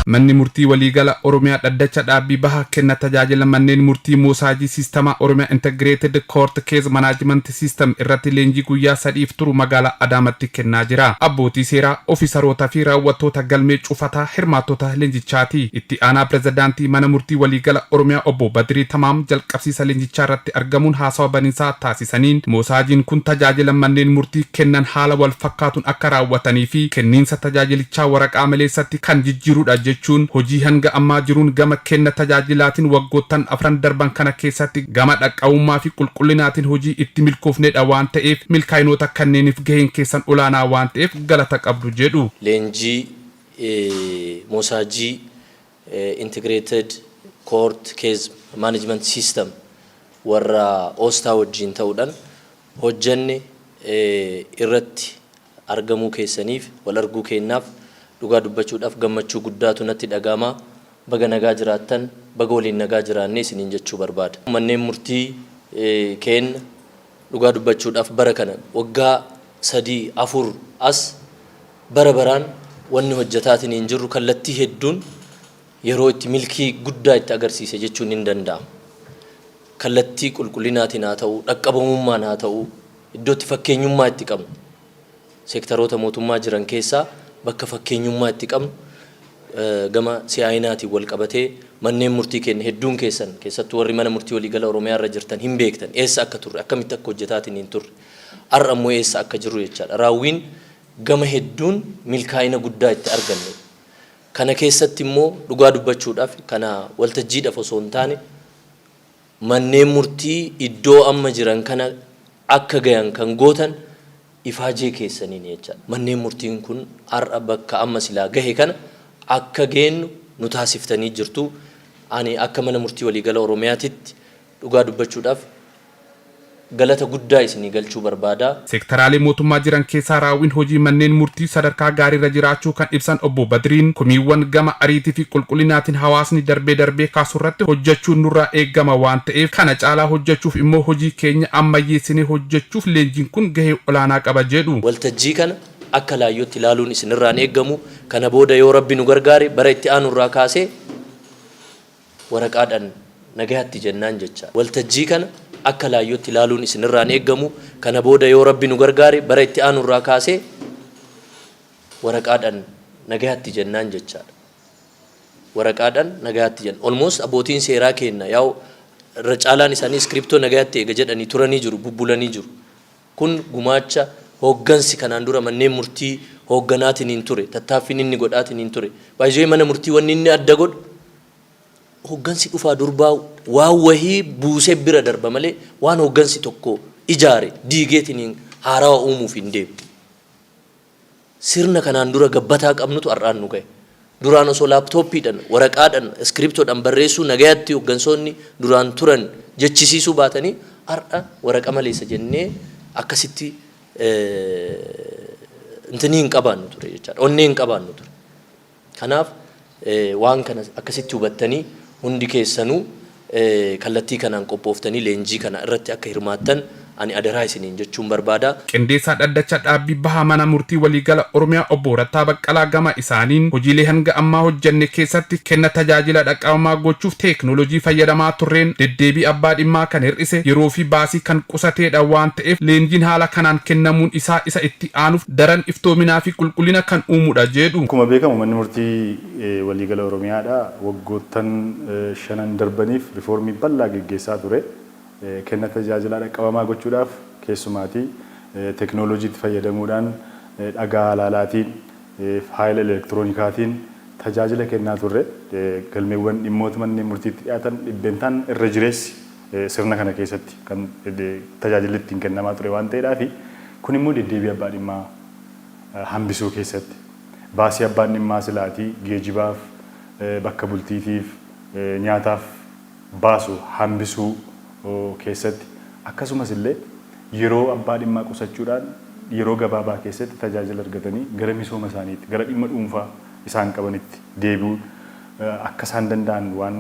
Manni murtii waliigala Oromiyaa dhaddacha dhaabbii baha kenna tajaajila manneen murtii moosaajii siistamaa Oromiyaa Integrated Court Case Management System irratti leenjii guyyaa sadiif turu magaalaa Adaamatti kennaa jira. Abbootii seeraa, ofisaroota fi raawwattoota galmee cufataa hirmaattota leenjichaati. Itti aanaa pirezidaantii mana murtii waliigala Oromiyaa obbo Badirii Tamaam jalqabsiisa leenjichaa irratti argamuun haasawa baninsaa taasisaniiru. beeksisaniin, moosaajiin kun tajaajila manneen murtii kennan haala wal fakkaatuun akka raawwatanii fi kenniinsa tajaajilichaa waraqaa maleessatti kan jijjiirudha jechuun hojii hanga ammaa jiruun gama kenna tajaajilaatiin waggoottan afran darban kana keessatti gama dhaqqabummaa fi qulqullinaatiin hojii itti milkoofnedha waan ta'eef milkaa'inoota kanneeniif gaheen keessan olaanaa waan ta'eef galata qabdu jedhu. Leenjii moosaajii Integrated Court Case Management System warra Osta wajjiin ta'udhan hojjanne irratti argamuu keessaniif, wal arguu keennaaf dhugaa dubbachuudhaf gammachuu guddaatu natti dhaga'ama. Baga nagaa jiraattan, baga waliin nagaa jiraanne isiniin jechuu barbaada. Manneen murtii keenna Dhugaa dubbachuudhaaf bara kana waggaa sadii, afur as bara baraan wanni hojjetaatiniin jirru kallattii hedduun yeroo itti milkii guddaa itti agarsiise jechuun hin danda'amu. Kallattii qulqullinaatiin haa ta'uu, dhaqqabamummaan haa ta'uu, iddoo itti fakkeenyummaa itti qabnu. Seektaroota mootummaa jiran keessaa bakka fakkeenyummaa itti qabnu gama si'aayinaatiin walqabatee manneen murtii keenya hedduun keessan keessattuu warri mana murtii waliigala Oromiyaa irra jirtan hin beektan eessa akka turre akkamitti akka hojjetaatiniin turre har'a immoo eessa akka jirru jechaadha. Raawwiin gama hedduun milkaa'ina guddaa itti argannedha. Kana keessatti immoo dhugaa dubbachuudhaaf kana waltajjiidhaaf osoo hin taane manneen murtii iddoo amma jiran kana akka gayan kan gootan ifaajee keessaniini jechaadha. Manneen murtiin kun har'a bakka amma silaa gahe kana akka geennu nu taasiftanii jirtu. Ani akka Mana Murtii Waliigala Oromiyaatitti dhugaa dubbachuudhaaf, galata guddaa isinii galchuu barbaada. Seektaraalee mootummaa jiran keessaa raawwiin hojii manneen murtii sadarkaa gaariirra jiraachuu kan ibsan Obbo Badriin, komiiwwan gama ariitiifi qulqullinaatiin hawaasni darbee darbee kaasurratti hojjechuun nurraa eegama waan ta'eef kana caalaa hojjechuuf immoo hojii keenya ammayyeessinee hojjechuuf leenjiin kun gahee olaanaa qaba jedhu. Waltajjii kana akka laayyootti ilaaluun isinirraa hin eegamu. Kana booda yoo Rabbi nu gargaare bara itti aanurraa kaasee. waraqaadhan nagayatti jennaan jecha waltajjii kana akka laayyootti ilaaluun isin irraa hin eeggamu. Kana booda yoo Rabbi nu gargaare bara itti aanu irraa kaasee waraqaadhan nagayatti jennaan jechaadha. Waraqaadhan nagayatti jenna. Almost abbootiin seeraa keenna yaa'u irra caalaan isaanii iskiriptoo nagayatti eega jedhanii turanii jiru, bubbulanii jiru. Kun gumaacha hooggansi kanaan dura manneen murtii hoogganaatiniin ture, tattaaffiin inni godhaatiniin ture. By the way mana murtii wanni inni adda godhu hooggansi dhufaa durbaa waan wahii buusee bira darba malee waan hooggansi tokko ijaare diigeetiniin haarawa uumuuf hin deemu. Sirna kanaan dura gabbataa qabnutu har'aan nu gahe. Duraan osoo laaptooppiidhan, waraqaadhan, iskiriptoodhan barreessuu nagayatti hoggansoonni duraan turan jechisiisuu baatanii har'a waraqa maleessa jennee akkasitti intini hin qabaannu ture jechaadha. Onnee hin qabaannu ture. Kanaaf waan kana akkasitti hubattanii hundi keessanuu kallattii kanaan qophooftanii leenjii kana irratti akka hirmaattan ani adaraa isiniin jechuun barbaada. Qindeessaa Dhaddacha Dhaabbii Baha Mana Murtii Waliigala Oromiyaa Obbo Rattaa Baqqalaa gama isaaniin, hojiilee hanga ammaa hojjenne keessatti kenna tajaajila dhaqqabamaa gochuuf teeknooloojii fayyadamaa turreen deddeebii abbaa dhimmaa kan hir'ise, yeroo fi baasii kan qusateedha waan ta'eef leenjiin haala kanaan kennamuun isaa isa itti aanuuf daran iftoominaa fi qulqullina kan uumu dha jeedhu. Akkuma beekamu Manni Murtii Waliigala Oromiyaa dha waggoottan shanan darbaniif rifoormii bal'aa geggeessaa ture. Kenna tajaajilaa dhaqqabamaa gochuudhaaf keessumaati teknooloojiitti fayyadamuudhaan dhagaa halaalaatiin, faayila elektiroonikaatiin tajaajila kennaa turre. Galmeewwan dhimmoota manneen murtiitti dhiyaatan dhibbentaan irra jireessi. sirna kana keessatti kan tajaajilli ittiin kennamaa ture waan ta'eedhaafi. Kun immoo deddeebii abbaa dhimmaa hambisuu keessatti baasii abbaan dhimmaa silaatii geejibaaf, bakka bultiitiif, nyaataaf baasu hambisuu keessatti akkasumas illee yeroo abbaa dhimmaa qusachuudhaan yeroo gabaabaa keessatti tajaajila argatanii gara misooma isaaniitti, gara dhimma dhuunfaa isaan qabanitti deebi'uun akka isaan danda'an waan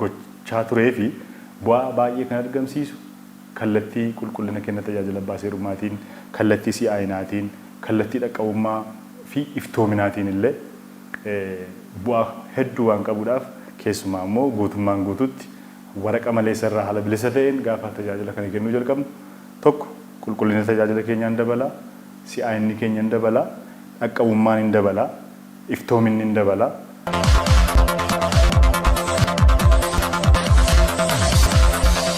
gochaa turee fi bu'aa baay'ee kan argamsiisu kallattii qulqullina kenna tajaajila abbaa seerummaatiin, kallattii si'aayinaatiin, kallattii dhaqqabummaa fi iftoominaatiin illee bu'aa hedduu waan qabuudhaaf keessumaa immoo guutummaan guutuutti waraqa maleessa irraa haala bilisa ta'een gaafa tajaajila kana kennuu jalqabnu tokko qulqullina tajaajila keenyaa in dabala, si'aayinni keenya in dabala, dhaqqabummaan in dabala. iftoominni in dabala.